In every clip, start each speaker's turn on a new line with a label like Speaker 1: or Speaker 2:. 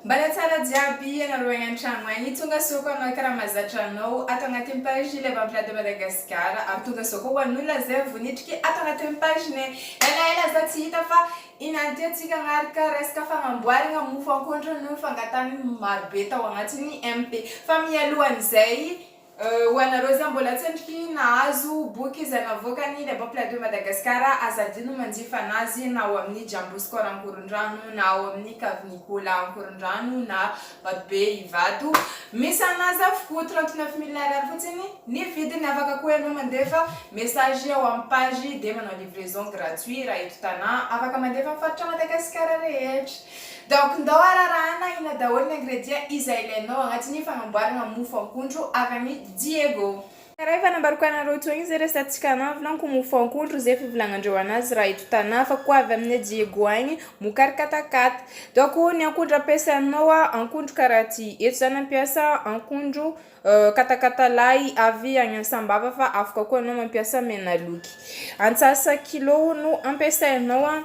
Speaker 1: Mbala tsara jiaby ianareo agny antragno agny, tonga soa koa anao karama zatra anao ato agnatin'ny page le Vampirade de Madagascar ary tonga soa koa ho an'olona zay vao niditry ato agnatin'ny page nay, ela ela za tsy hita fa inany ty atsika agnaraka resaka fagnamboaragna mofo ankoatry ny fangatahagna ny marobe tao agnatiny MP, fa mialohan'izay Ho anareo izay mbola tsy endriky nahazo boky izay navoakan'ny Les Bons Plaids de Madagascar, aza adino ny manjifa an'azy na ao amin'ny Jambo Score Ankorondrano na ao amin'ny Cave Nicolas Ankorondrano na Vatobe Ivato. Misy an'azy avokoa, trente neuf mille ariary fotsiny ny vidiny. Afaka koa ianao mandefa message ao amin'ny page dia manao livraison gratuit raha eto Tana. Afaka mandefa amin'ny faritra Madagasikara rehetra. Donc ndao ararahana aina daholo ny ingrédients izay ilainao agnatin'ny fagnamboaragna mofo akondro avy ami Diego. Karaha efa nambariko anareo teo igny zay resatsika anao vilanko mofo akondro zay fivolagnandreo anazy raha eto Tana fa koa avy amine Diego agny mokary katakata donc ny akondro ampiasainao a akondro karaha ty eto za nampiasa akondro katakata lahy avy agny an sambava fa afaka koa anao mampiasa menaloky antsasa kilô no ampiasainao a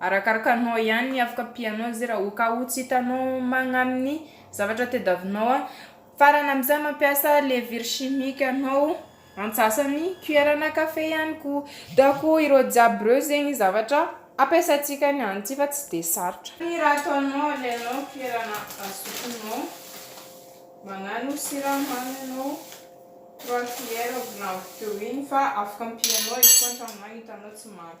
Speaker 1: Arakaraka anao ihany ny afaka ampianao zay raha ka ho tsy hitanao magnampy ny zavatra tediavinao an. Farany amin'izay mampiasa levure chimique anao antsasany cuillère na café ihany koa. Dako ireo jiaby ireo zegny zavatra ampiasaintsika ny any ty fa tsy de sarotra. Ny raha ataonao alainao cuillère na azokinao magnano siramamy anao trois cuillère volagno teo igny fa afaka ampianao izy koa an-tragnonao hitanao tsy mamy.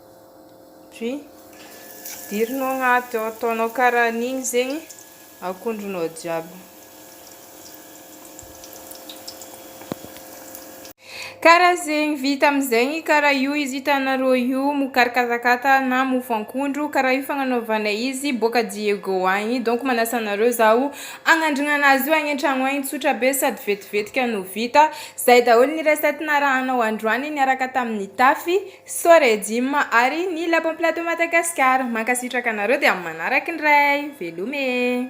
Speaker 1: Dry, dirinao agnaty ao, ataonao karahan'igny zegny akondronao jiaby. Karaha zegny, vita amizegny karaha io izy hitanareo io, mokary katakata na mofo ankondro, karaha io fagnanaovanay izy boaka Diego agny, donc manasa anareo zaho agnandrigna anazy io agny antragno agny, tsotra be sady vetivetika no vita, zay daholo ny recette narahanao androany niaraka tamin'ny Tafy. Sore Jim ary ny La Bombe Plateau Madagascar. Mankasitraka anareo dia amin'ny manaraka indray. Veloma e.